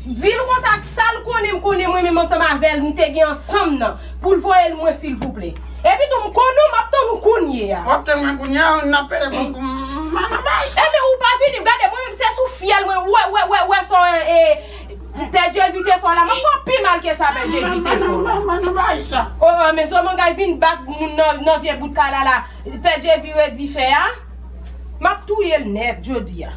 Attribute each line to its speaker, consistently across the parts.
Speaker 1: Dil konsa
Speaker 2: sal konnen m konnen mwen menm ansanm avèl m te gen ansanm nan poul voyel mwen silvouplè. Epitou m konnen w map tann ou kounye a. Paske mwen kounye a
Speaker 1: nap pede pou m al nan bay.
Speaker 2: Ebyen ou pa vini gade mwen menm se sou fyèl mwen ou wè sa w e pè Djevi te fè w la map fè w pi mal ke sa pè Djevi te fè w la. Mwen nan bay sa. Ooh men zomangay vin bat moun nan vye bout kay la la pè Djevi redi fè a map touyel nèt jodia.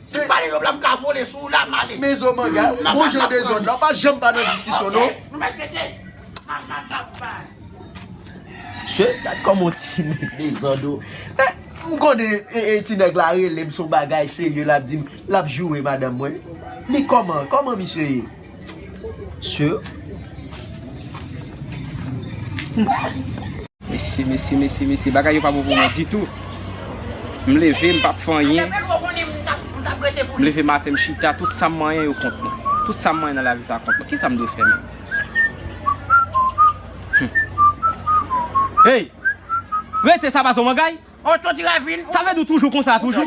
Speaker 3: Se pale yo blan m ka
Speaker 4: vole sou ou la m ale. Mezo manga, bon
Speaker 3: jan dezod la, pa janm pa nan diskisyon non. Nou met mete, pa janm pa pale. Mesye, gad koman ti neg dezod o. Men, m konnen e ti neg la rele m son bagay serye lap di m lap joure madanm mwen. Li koman, koman misye ye? Sure.
Speaker 5: Mesi, mesi, mesi, mesi. Bagay yo pa bon pou mwen ditou. M leve, m pap fè anyen. M leve maten, m chita. Tout sa m manyen yo kont mwen. Tout sa m manyen nan lavi sa kont mwen. Kisa m dwe fè menm? Hey! Rete sa pa son bagay?
Speaker 4: Sa vle di ou toujou konsa
Speaker 5: toujou?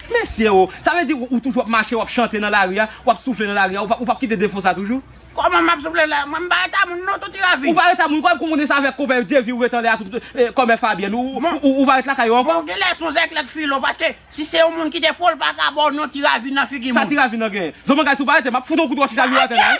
Speaker 5: Mesye oo, sa vle di ou toujou ap mache wap chante nan lari a, wap soufle nan lari a, ou pap kite defo sa toujou? Kòman map soufle la,
Speaker 4: mwen mpa reta moun non touti lavi. Ou pa reta moun, kòm konnen
Speaker 5: sa avèk konpè yo Dyevy ou ret anlè a tout, kòmè Fabyèn ou ou pa ret lakay yo ankò? Bon ou genlè son zèklèk filo
Speaker 4: paske si se yon moun ki te fol paka baw non ti ravin nan figi moun. Sa ti ravin nan genyen? Zo
Speaker 5: mangay si ou pa rete map fout on kout wòch chita virè atè la wi.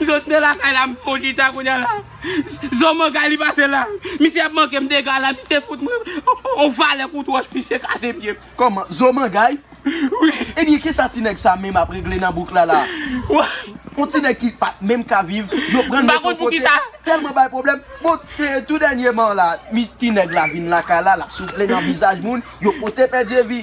Speaker 5: M sot nan lakay la m pran chita kounya la Zo manga li pase la Misye ap manke m dega la Misye fout m yon vale kout wòch Misye kase pye m Kòman? Zo mangay?
Speaker 3: Wi
Speaker 5: Ebyen kisa ti
Speaker 3: nèg sa menm ap regle nan bouk la la a? Woy
Speaker 5: Yon ti nèg ki
Speaker 3: pat menm ka viv Yo pran l met yon kote Li
Speaker 5: tèlman bay pwoblèm
Speaker 3: Bon tou dènyeman la Ti nèg la vin lakay la l ap soufle nan vizaj moun Yo pote pè Dyezi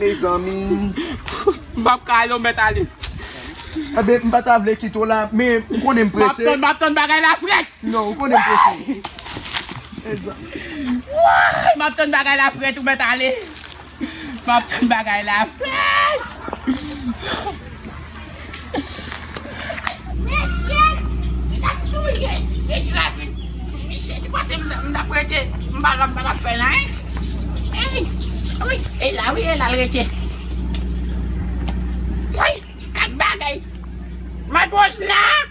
Speaker 3: Mezanmi. M pap ka
Speaker 5: ale ou met ale. Ebe
Speaker 3: m pata vle kite w la men ou konnen m prese. Map tann map tann bagay la fret.
Speaker 5: Non ou konnen m prese. Wouyy
Speaker 3: map tann
Speaker 5: bagay la fret ou met ale. Map tann bagay la fret. Mesye
Speaker 4: sa touye e di la vin pou misye li panse m tap rete m pa la m pa tap fè anyen wi wi e la wi e la l rete woy 4 bagay matwoj la.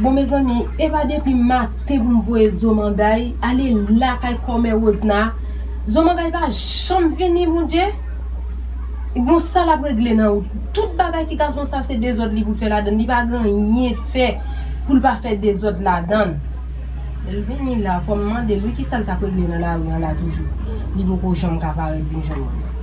Speaker 4: Bon
Speaker 2: mezanmi epa depim maten poum voye zomangay ale lakay kòmè rosna zomangay pa janm vini bondye gon sa lap regle nan wout tout bagay ti gason sa se dezòd li pou fè ladann li pa gen anyen fè poul pa fè dezòd ladann lèl vini la fòm mandel wi kisal tap regle nan lari an la toujou li poko janm ka parèt vin jwenn mwen.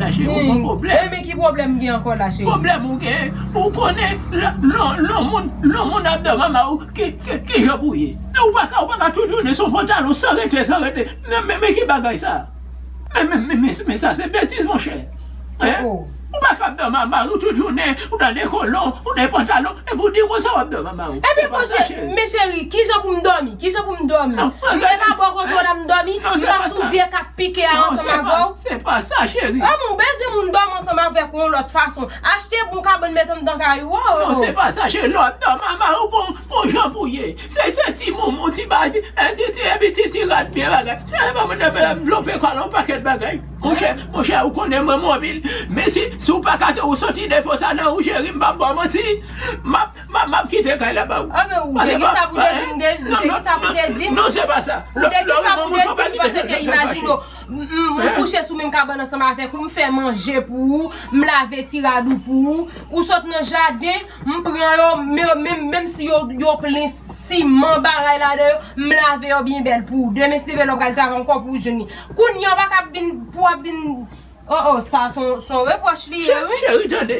Speaker 1: La cheri ou gon problem. Humm Amy ki pwoblèm m gen ankò
Speaker 2: la cheri. Pwoblèm ou gen
Speaker 1: ou konnen lò moun lò moun ap dan mama ou kijan pou ye ou paka ou paka tout jounen son pantalon san rete san rete men ki bagay sa men sa se betiz monchè hein ou paka ap dan mama ou tout jounen ou nan de kolon ou nan pantalon epi ou di konsa wap dan mama ou se pa sa cheri. Men
Speaker 2: cheri kijan pou m dòmi kijan pou m dòmi m te pa bò kontwò la m dòmi m pa sou vye kat. Pike a ansanm avè w. Se
Speaker 1: pa sa cheri. Humm ou bezwen moun dòmi
Speaker 2: ansanm avèk ou yon lòt fason. Achte bon kabann met anndan kay ou oo. Non se pa sa cheri
Speaker 1: lè w ap dòmi anba yon pon pon jan pou ye. Se se ti moumou ti ba ti ti ti epi ti ti rad byen bagay. Epi banm nan banm anvlope kòl yon pakèt bagay. Monchè monchè ou konnen mwen mobil men si si w pa ka ou soti defo sa nan ou cheri m pap ba w manti. M ap Map kite kay la ba ou. An men ou te gen sa
Speaker 2: pou te di m de, ou te gen sa pou te di m. Non se pa sa.
Speaker 1: Ou te gen sa pou te di
Speaker 2: m pase ke imajine ou m kouche sou menm kabann ansanm avèk ou, m fè manje pou ou, m lave ti rad ou pou ou, ou sot nan jaden, m pran yo, menm si yo plen siman bagay ladan yo, m lave yo byen bèl pou ou. Demen si te vle lè w pral travay ankò pou ou jwenn li. Kounye a ou pa ka ap vin, pou w ap vin, oh oh sa son repwòch li ye wi. Cheri tande,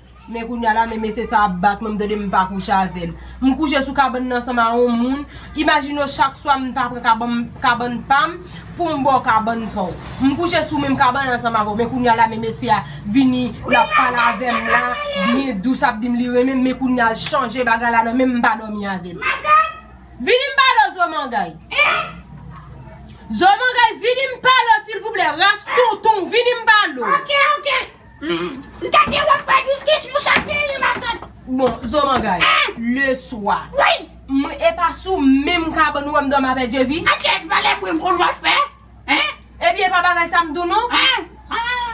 Speaker 2: Men kounya la men mesye sa ap bat mwen m tande m pa kouche avè l. M kouche sou kabann nan ansanm a on moun, imajine w chak swa m ta pran kabann pa m pou m ba w kabann pa w. M kouche sou menm kabann an ansanm avè w men kounya la men mesye a vini l ap pale avè m la byen dous ap di m li renmen m men kounya l chanje bagay la nan menm m pa dòmi avè l. Vini m pale w zomangay. Zomangay vini m pale w silvouplè ras tonton w vini m pale w.
Speaker 4: M ta gen wap fè 12 kech mouche ak Neri matant. Bon zo mangay
Speaker 2: le swa. Woy! M epa
Speaker 4: sou
Speaker 2: menm kabann wèm dòmi avè Djevi. Atye ak valè bri m
Speaker 4: konn wap fè hein. Ebyen epa bagay
Speaker 2: sa m di w non.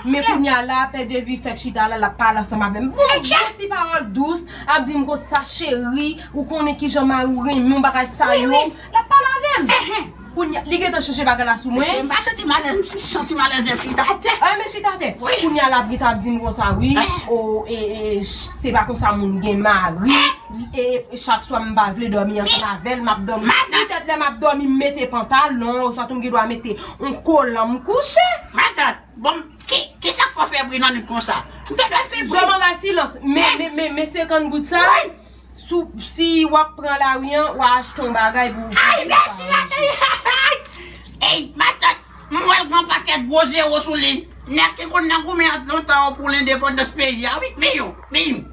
Speaker 2: Men kounya la pè Djevi fèk chita la lap pale ansanm avè m. Bon ti pawòl dous ap di m konsa cheri ou konnen kijan mari w renmen w bagay sa yo. Lap pale avem. Ehe. Kounya li gentan chanje bagay la sou mwen. Mesye mpa santim alèz m
Speaker 4: santim alèz lèm chita atè. Ehe men chita atè. Wi.
Speaker 2: Kounya la Brita ap
Speaker 4: dim
Speaker 2: konsa wi. Ehe. Oh eeh se pa konsa moun gen mari. Ehe. Eeh chak swa mpa vle domi ansanm avèl map domi. Madan. Petèt lè map domi m mete pantalon oswa tou m gen dwa mete yon kolan m kouche. Madan. Bon
Speaker 4: kisak fò febri nan nwit konsa. Mte dwe febri. Zo manga silans
Speaker 2: men men men men 50 goud sa. Wi. Si wap pran lari an, wa achte yon bagay pou ou. Ay mèsi
Speaker 4: Matòt! Ey Matòt, m wè l gen yon pakèt gwo zewo sou li. Nèg ki konn nan goumen an lontan an pou lendepandans peyi a wi. Miyou! Miyou! Miyou!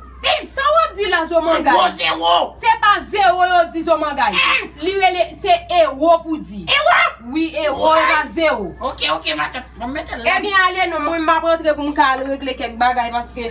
Speaker 2: Sa wap di la Zomangay? Yon gwo zewo! Se
Speaker 4: pa zewo
Speaker 2: yo di Zomangay. Li rele, se ewo pou di. Ewo? Wi ewo, e pa zewo. Ok, ok Matòt.
Speaker 4: Bon m mete l la. Ebyen ale non, mwen m
Speaker 2: ap antre pou m ka al regle kèk bagay paske.